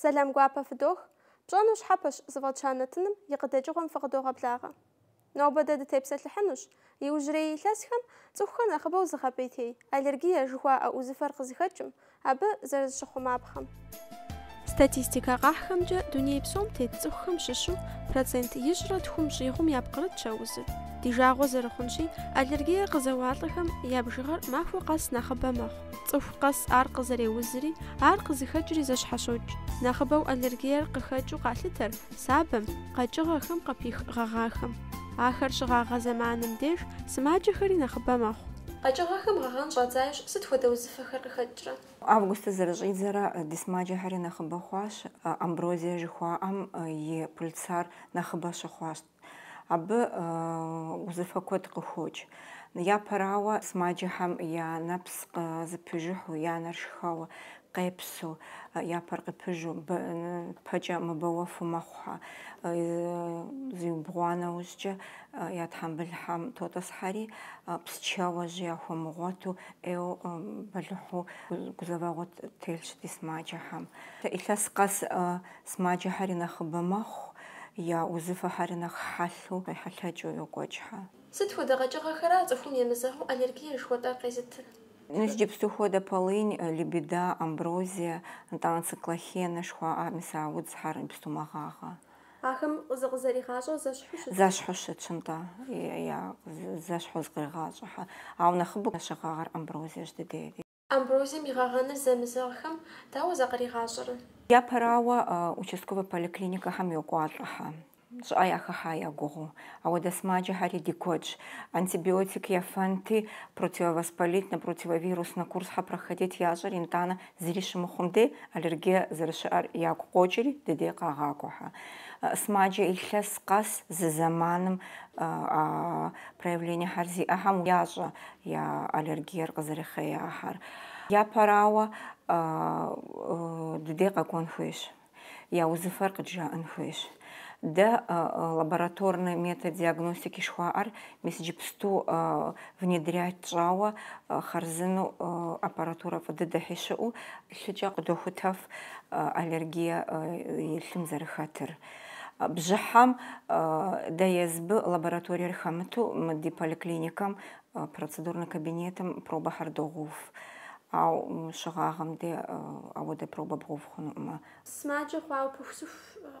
Сэлам гуапэ фыдох. Пщӏэну щхьэпэщ зыфӏэтща нэтыным и къыдэкӏыгъуэм фыкъыдогъэблагъэ. Нобэ дэ дытепсэлъыхьынущ иужьрей илъэсхэм цӏыхухэр нэхъыбэу зыгъэпӏейтей аллергие жыхуаӏэ узыфэр къызыхэкӏым, абы зэрызыщыхъумапхъэм. Статистикэ къахьхэмкӏэ, дуней псом тет цӏыхухэм щыщу процент ищӏрэ тхум щӏигъум япкърытщ а узыр. Ди жагъуэ зэрыхъунщи, аллергие къызэуалӏэхэм я бжыгъэр махуэ къэс нэхъыбэ мэхъу. Цӏыху къэс ар къызэреузри, ар къызыхэкӏри зэщхьэщокӏ. Нэхъыбэу аллергиер къыхэкӏыу къалъытэр сабэм, къэкӏыгъэхэм къыпих гъэгъахэм. Ахэр щыгъагъэ зэманым деж сымаджэхэри нэхъыбэ мэхъу. Къэкӏыгъэхэм гъэгъэн щӏадзащ, сыт хуэдэ узыфэхэр къыхэкӏрэ? Августыр зэрыщӏидзэрэ ди сымаджэхэри нэхъыбэ хъуащ, амброзие жыхуаӏэм и пыльцар нэхъыбэ щыхъуащ. Абы узыфэ куэд къыхокӏ. Япэрауэ, сымаджэхэм я нэпс къызыпыжыхьу, я нэр шхэуэ, къепсу, я пэр къыпыжу, пэкӏэ мыбэуэфу мэхъухьэ. Зиубгъуа нэужькӏэ я тхьэмбылхьэм тотӏысхьэри, псчэуэ, жьи яхуэмыгъуэту, ӏейуэ бэлыхьу гузэвэгъуэ телъщ ди сымаджэхэм. Илъэс къэс Сымаджэхэри нэхъыбэ мэхъу, я узыфэхэри нэхъ хьэлъэу къехьэлъэкӏыу йокӏуэкӏхьэ. Сыт хуэдэ къэкӏыгъэхэра цӏыхум емызэгъыу аллергие жыхуэтӏэр къезытыр? Иджыпсту хуэдэ полынь, лебеда, амброзие, нтӏанэ циклахенэ жыхуаӏэ мис а удзхьэр иджыпсту мэгъагъэ. Ахэм зыкъызэригъащӏэр зэщхьу щытщ. Зэщхьу щытщ, нтӏэ, я зэщхьу зыкъригъащӏэхьэ. Ауэ нэхъыбэу щыгъагъэр амброзиещ дыдей. Амброзием и гъэгъэныр зэмызэгъхэм дауэ зыкъригъащӏэрэ? Япэрауэ, участковэ поликлиникэхэм йокӏуалӏэхьэ, щӏыӏэ яхыхьа я гугъэу. Ауэдэ сымаджэхэри ди куэдщ. Антибиотик ефэнти, противовоспалительнэ, противовируснэ курсхьэ проходить ящӏэри, нтӏанэ зыри щымыхъум дей, аллергие зэрыщыӏэр ягу къокӏри, дыдей къагъакӏуэхьэ. Сымаджэ илъэс къэс зы зэманым а проявлениехьэр зиӏэхэм ящӏэ я аллергиер къызэрыхъеяхьэр. Япэрауэ, дыдей къэкӏуэн хуейщ, я узыфэр къыджаӏэн хуейщ. Дэ лабораторнэ метод диагностики шхуаӏэр мис иджыпсту внедрять тщӏауэ, хъарзыну аппаратурэ фӏы дыдэхьи щыӏэу, лъыкӏэ къыдохутэф аллергие и лъым зэрыхэтыр. Бжьыхьэм дэ езыбы лабораториер хэмыту мы ди поликлиникэм процедурнэ кабинетым пробэхэр догъув. Ау щыгъагъэм де ауэдэ пробэ бгъув хъунуӏымэ. Сымаджэ хъуауэ пыхусыху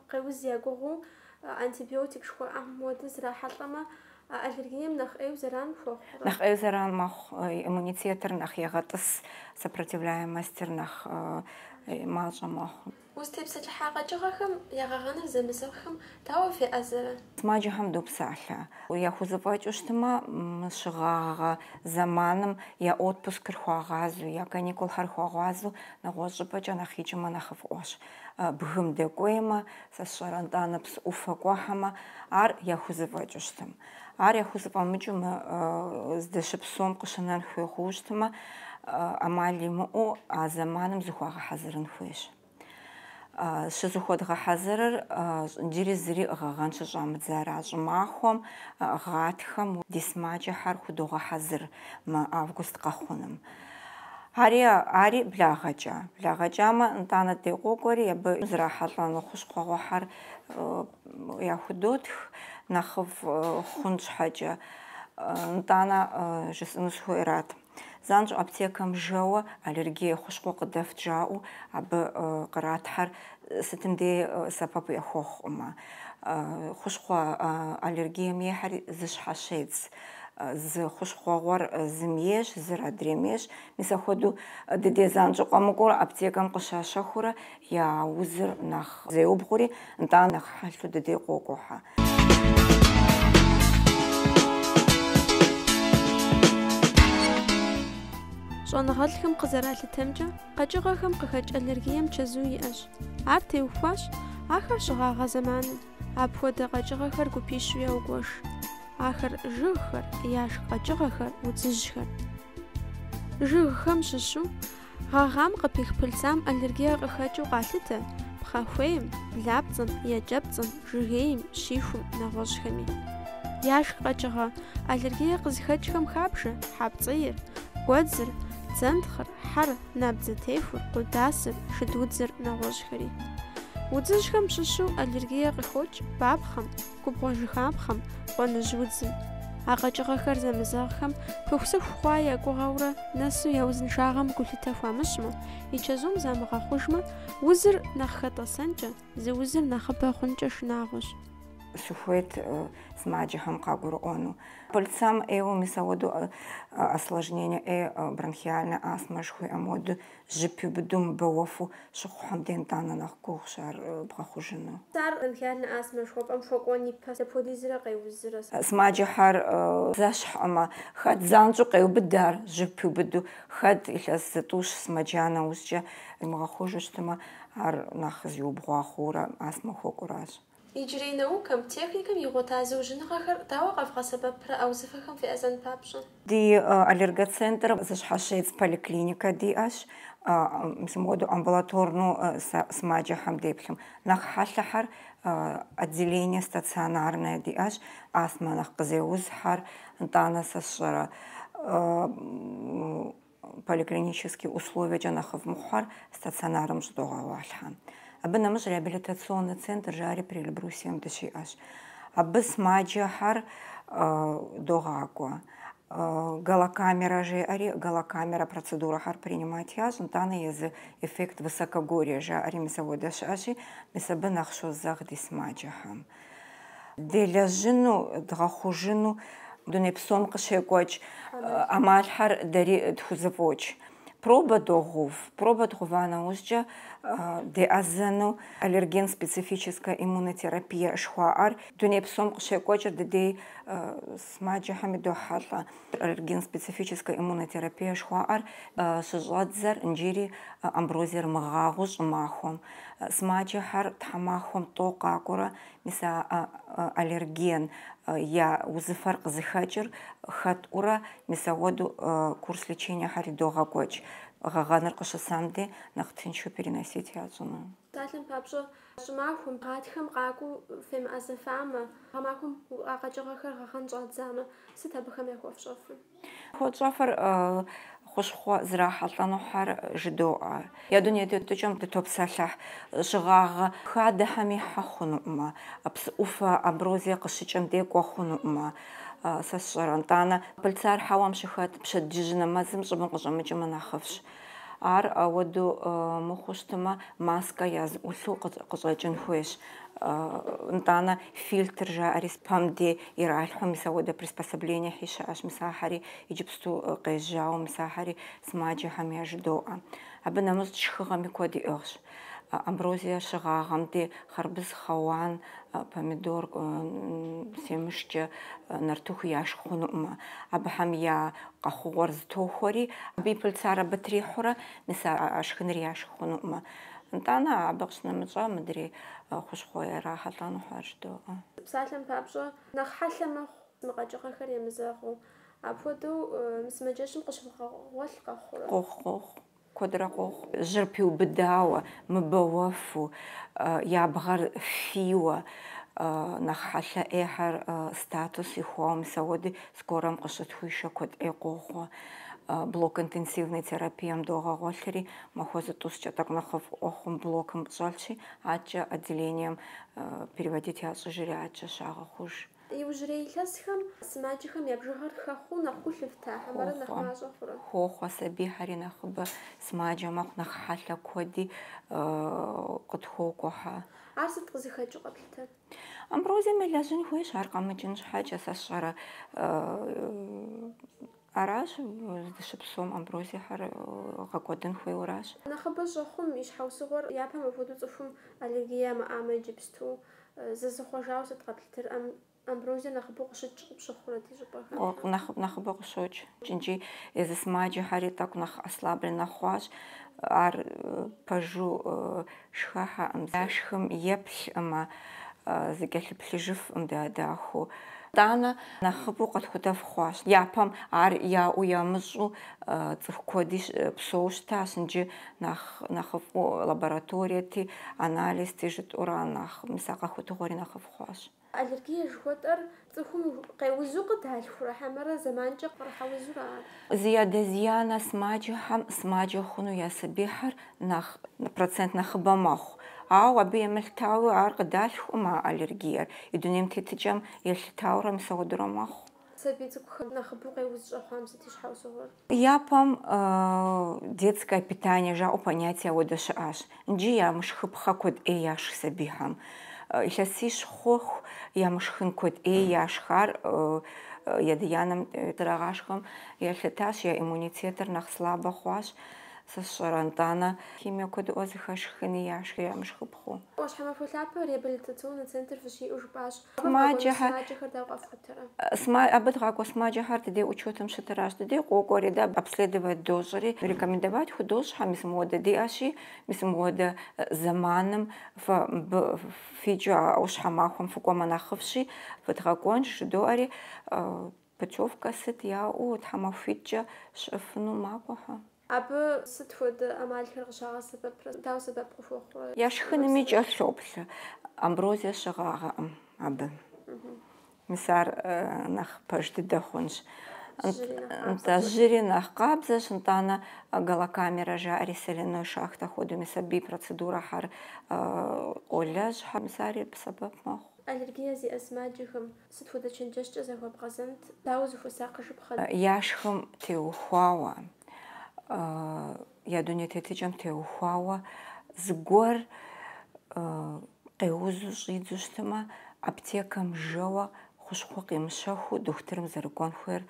къеуз я гугъуу, антибиотик жыхуаӏэм хуэдэ зрахьэлӏэмэ, аллергием нэхъ ӏейу зэран хуохъу. Нэхъ ӏейу зэран мэхъу, иммунитетыр нэхъ егъэтӏыс, сопротивляемостыр нэхъ мащӏэ мэхъу. Узытепсэлъыхьа къэкӏыгъэхэм я гъэгъэныр зэмызэгъхэм дауэ феӏэзэрэ? Сымаджэхэм допсалъэ. Яхузэфӏэкӏыу щытмэ, мы щыгъагъэ зэманым я отпускыр хуагъазэу, я каникулхэр хуагъазэу нэгъуэщӏ щӏыпӏэкӏэ нэхъ икӏымэ нэхъыфӏыӏуэщ. Бгым дэкӏуеймэ, сэ сщӏэрэ, нтӏанэ псы ӏуфэ кӏуэхьэмэ, ар яхузэфӏэкӏыу щытым. Ар яхузэфӏэмыкӏыу мы здэщыпсэум къыщынэн хуей хъууэ щытмэ, ӏэмал имыӏэу а зэманым зыхуагъэхьэзырын хуейщ. Щызыхуэдгъэхьэзырыр иджыри зыри гъэгъэн щыщӏамыдзара щӏымахуэм, гъатхэм ди сымаджэхьэр худогъэхьэзыр мы август къэхъуным. Ари, ари благъэкӏэ. Благъэкӏамэ, нтӏанэ дей къокӏуэри абы зрахьэлӏэну хущхъуэгъуэхьэр Яхудотх, нэхъыфӏ хъун щхьэкӏэ. Нтӏанэ жысӏэну сыхуейрат. Занщӏэу аптекэм жэуэ аллергие хущхъуэ къыдэфт жаӏэу абы къратхьэр сытым дей сэбэп яхуэхъукъымэ. Хущхъуэ аллергием ейхьэри зэщхьэщедз. Зы хущхъуэгъуэр зым ейщ, зыр адрейм ейщ. Мис ахуэдэу дыдей занщӏэу къэмыкӏуэурэ аптекэм къыщащэхуурэ Я узыр нэхъ зеубгъури, нтӏа нэхъ хьэлъу дыдей къокӏуэхьэ. Щӏэныгъэлӏхэм къызэралъытэмкӏэ, къэкӏыгъэхэм къыхэкӏ аллергием чэзу иӏэщ. Ар теухуащ ахэр щыгъагъэ зэманым, апхуэдэ къэкӏыгъэхэр гупищу яугуэш. Ахэр жыгхэр, яшх къэкӏыгъэхэр, удзыжьхэр. Жыгхэм щыщу, Гъэгъам къыпих пыльцам аллергие къыхэкӏыу къалъытэ пхъэхуейм, блапцӏэм, екӏэпцӏэм, жыгейм, щихум, нэгъуэщӏхэми. Яшх къэкӏыгъэ аллергие къызыхэкӏхэм хабжэ хьэпцӏийр, гуэдзыр, зэнтхъыр, хьэр, набдзэтехур, къудасыр, шыдудзыр, нэгъуэщӏхэри. Удзыжьхэм щыщу аллергие къыхокӏ бапхъэм, губгъуэ жыхапхъэм, къуэныжь удзым. А къэкӏыгъэхэр зэмызэгъхэм пыхусыху хъуа я гугъэурэ нэсу я узыншагъэм гулъытэ хуамыщӏмэ, и чэзум замыгъэхъужмэ, узыр нэхъ хэтӏэсэнкӏэ, зы узыр нэхъыбэ хъункӏэ шынагъуэщ. Сыхуейт сымаджэхэм къагурыӏуэну. Пыльцам ӏейуэ мис ауэду осложнение ӏей бронхиальная астмэ жыхуиӏэм хуэду Жьы пиубыдэу мыбэуэфу щыхъухьэм дей нтӏанэ нэхъ гугъущ ар бгъэхъужыну. Ар бронхиальная астмэ жыхуэпӏэм хуэкӏуэн ипэ дапхуэдизрэ къеузрэ? Сымаджэхьэр зэщхьӏымэ, хэт занщӏэу къеубыд ар жьы пиубыдэу, хэт илъэс зытӏущ сымаджа нэужькӏэ имыгъэхъужу щытымэ, ар нэхъ зиубгъуа хъуурэ астмэ хуэкӏуращ. Иджырей наукэм, техникэм игъуэта зыужьыныгъэхэр дауэ къэвгъэсэбэпрэ а узыфэхэм феӏэзэн папщӏэ? Ди аллергоцентр зыщхьэщедз поликлиникэ диӏэщ. Мис мыуэдэу амбулаторнэу сымаджэхэм деплъым. Нэхъ хьэлъэхьэр отделение стационарное диӏэщ, астмэ нэхъ къызеузхьэр, нтӏанэ сэ сщӏэрэ. Поликлинический условиекӏэ нэхъыфӏ мыхъухэр стационарым щӏыдогъэгъуалъхьэ. Абы нэмыщӏ реабилитационный центр жари Приэльбрусьем дыщиӏэщ. Абы смаджэхэр догъакӏуэ. Галокамерэ жеӏэри, галокамерэ процедурэхэр принимать ящӏ, нтӏанэ езы эффект высокогорья жаӏэри мис ауэдэ щыӏэщи, мис абы нэхъ щозэгъ ди смаджэхэм. Делэжьыну, дгъэхъужыну дуней псом къыщекӏуэкӏ ӏэмалхэр дэри тхузэфӏокӏ. Пробэ догъув. Пробэ дгъува нэужькӏэ деӏэзэну аллерген специфическая иммунотерапия жыхуаӏэр дуней псом къыщекӏуэкӏыр дыдей сымаджэхэм идохьэлӏэ. Аллерген специфическая иммунотерапия жыхуаӏэр щыщӏэддзэр инджыри амброзиер мыгъагъэу щӏымахуэм, сымаджэхэр тхьэмахуэм тӏэу къакӏуэрэ, мис а аллерген я узыфэр къызыхэкӏыр хэтӏурэ, мис ауэдэу курс лечениехьэр идогъэкӏуэкӏ, гъэгъэныр къыщысам дей нэхъ тыншу переносить ящӏыну. Псалъэм папщӏэ, Щӏымахуэм, гъатхэм къакӏуэу фемыӏэзэфамэ, гъэмахуэм а къэкӏыгъэхэр гъэгъэн щӏадзамэ, сыт абыхэм яхуэфщӏэфыр? Хуэтщӏэфыр хущхъуэ зрахьэлӏэнухьэр жыдоӏэ. Я дуней тетыкӏэм дытопсэлъыхь щыгъагъэ хадэхэм ихьэ хъунуӏымэ, псы ӏуфэ амброзие къыщыкӏэм де кӏуэ хъунуӏымэ, сэ сщӏэрэ. Нтӏанэ, пыльцар хьэуам щыхэт пщэдджыжь нэмэзым щӏыбым къыщӏэмыкӏымэ нэхъыфӏщ. Ар ауэдэу мыхъуу щытымэ, маскэ языӏулъу къыщӏэкӏын хуейщ. Нтӏанэ фильтр жаӏэри пэм дей иралъхьу, мис ауэдэ приспособленияхьи щыӏэщ, мис ахьэри, иджыпсту къежьауэ, мис ахьэри сымаджэхэм яжыдоӏэ. Абы нэмыщӏ шхыгъэми куэд иӏыгъщ. Амброзие щыгъагъэм де хъарбыз, хъэуан, помидор семышкӏэ нартыху яшх хъунуӏымэ, абыхэм я къэхъугъуэр зытохуэри, абы и пыльцар абы трихьурэ, мис а шхыныр яшх хъунуӏымэ. Нтӏанэ абы къыщнэмыщӏа мыдрей хущхъуэ ярахьэлӏэнухьэр жыдоӏэ. Псалъэм папщӏэ, нэхъ хьэлъэ мэхъу мы къэкӏыгъэхэр емызэгъыу. Апхуэдэу мы сымаджэщым къыщывгъэгъуэлъ къэхъурэ? Къохъу, къохъу. Куэдрэ къохъу, жьыр пиубыдауэ, мыбэуэфу, я бгъэр фийуэ, нэхъ хьэлъэ ӏейхэр статус ихуауэ, мис ауэди, скорэм къыщытхуишэ куэд ӏей къохъуэ. Блок интенсивной терапием догъэгъуэлъри, махуэ зытӏущкӏэ тӏэкӏу нэхъыфӏыӏуэ хъум блокым щӏэлъщи, атчӏэ отделением переводить ящӏыжри атчӏэ щагъэхъуж. Иужьрей илъэсхэм сымаджэхэм я бжыгъэр хэхъуэу нэхъ гу лъыфта, хьэмэрэ нэхъ мащӏэ хъурэ? Хохъуэ, сабийхьэри нэхъыбэ сымаджэ мэхъу, нэхъ хьэлъэ куэди э, къытхуокӏуэхьэ. Ар сыт къызыхэкӏыу къэплъытэр? Амброзием елэжьын хуейщ, ар къэмыкӏын щхьэкӏэ, сэ сщӏэрэ, э, Аращ, здыщыпсэум амброзиехэр гъэкӏуэдын хуейуэращ. Нэхъыбэ щӏэхъум и щхьэусыгъуэр япэм апхуэдэу цӏыхум аллергие ямыӏамэ иджыпсту зызыхъуэжауэ сыт къэплъытэр? Амброзиер нэхъыбэу къыщыкӏ къыпщыхъурэ ди щӏыпӏэхэм? Нэхъыбэу къыщокӏ икӏи езы сымаджэхэри тӏэкӏу нэхъ ослабленнэ хъуащ. Ар пэжу Шхэхьэӏым, яшхым еплъӏымэ, зыкӏэлъыплъыжыфӏым дахэу. Тӏанэ нэхъыбэу къэтхутэф хъуащ. Япэм ар яӏэу ямыщӏу цӏыху куэди псэу щытащ, нджы нэхъ нэхъыфӏу лабораториети, анализти жытӏэурэ, нэхъ мис а къэхутыгъуэри нэхъыфӏ хъуащ. Аллергия жыхуэтӏэр цӏыхум къеузу къыдалъхурэ хьэмэрэ зэманкӏэ кърыхьэузурэ? Зи адэ зи анэ сымаджэхэм сымаджэ хъуну я сабийхэр нэхъ процент нэхъыбэ мэхъу. Ауэ абы емылъытауи ар къыдалъхуӏым а аллергиер, и дунейм тетыкӏэм елъытаурэ мис ауэдурэ мэхъу. Сабий цӏыкӏухэм нэхъыбэу къеуз щӏэхъуам сыт и щхьэусыгъуэр? Япэм детское питание жаӏэу понятие ауэдэ щыӏащ. Нджи ямышхыпхъэ куэд ӏей яшх сабийхэм. Илъэсищ хъуху ямышхын куэд ӏей яшх. Ар ядэ-янэм зэрагъашхэм елъытащ, я иммунитетыр нэхъ слабэ хъуащ, сэ сщӏэрэ, нтӏанэ. Химие куэдыӏуэ зыхэлъ шхыни яшх ямышхыпхъэу. Ӏуащхьэмахуэ лъапэ реабилитационнэ центр фыщиӏэу жыпӏащ Сымаджэхэр дауэ къэфхутэрэ? Абы дгъакӏуэ сымаджэхэр дыдей учетым щытыращ. Дыдей къокӏуэри, дэ обследовать дощӏри, рекомендовать худощӏхьэ, мис мыуэдэ диӏэщи, мис мыуэдэ зэманым фэ мыбы фикӏыу а Ӏущхьэмахуэм фыкӏуэмэ нэхъыфӏщи, фыдгъэкӏуэнщ, жыдоӏэри, Путевкэ сыт яӏэу тхьэмахуитӏкӏэ щыӏэфыну макӏуэхьэ. Абы сыт хуэдэ ӏэмалхэр къыщагъэсэбэпрэ, дауэ сэбэп къыхуэхъурэ? Я шхыными кӏэлъоплъ. Амброзие щыгъагъэӏым абы. Мис ар нэхъ пэж дыдэ хъунщ. Нтӏэ, жьыри нэхъ къабзэщ, нтӏанэ галокамерэ жаӏэри соляной шахтэ хуэдэу, мис абы и процедурэхьэр къолэжьхьэ, мис ари сэбэп мэхъу. Аллергие зиӏэ сымаджэхэм Сыт хуэдэ чэнджэщкӏэ захуэбгъэзэнт, дауэ зыхуэсакъыжыпхъэ? Я шхым теухуауэ, я дуней тетыкӏэм теухуауэ зыгуэр къеузу щӏидзу щытымэ, аптекэм жэуэ хущхъуэ къимыщэхуу дохутырым зэрыкӏуэн хуейр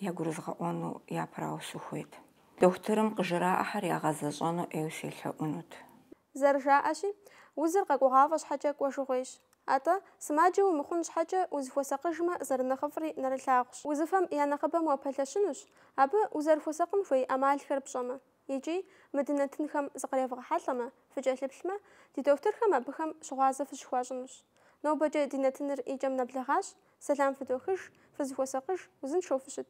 ягурызгъэӏуэну япэрауэ сыхуейт. Дохутырым къыжраӏэхэр ягъэзэщӏэну ӏейуэ селъэӏунут. Зэрыжаӏэщи, узыр къэкӏуэгъафӏэ щхьэкӏэ кӏуэжыгъуейщ. Атӏэ, сымаджэ умыхъун щхьэкӏэ, узыхуэсакъыжмэ, зэрынэхъыфӏри нэрылъагъущ. Узыфэм я нэхъыбэм уапэлъэщынущ, абы узэрыхуэсакъын хуей ӏэмалхэр пщӏэмэ. Икӏи, мы ди нэтынхэм зыкъревгъэхьэлӏэмэ, фыкӏэлъыплъмэ, ди дохутырхэм абыхэм щыгъуазэ фыщыхуащӏынущ. Нобэкӏэ ди нэтыныр и кӏэм нэблэгъащ, сэлам фыдохыж, фызыхуэсакъыж, узыншэу фыщыт.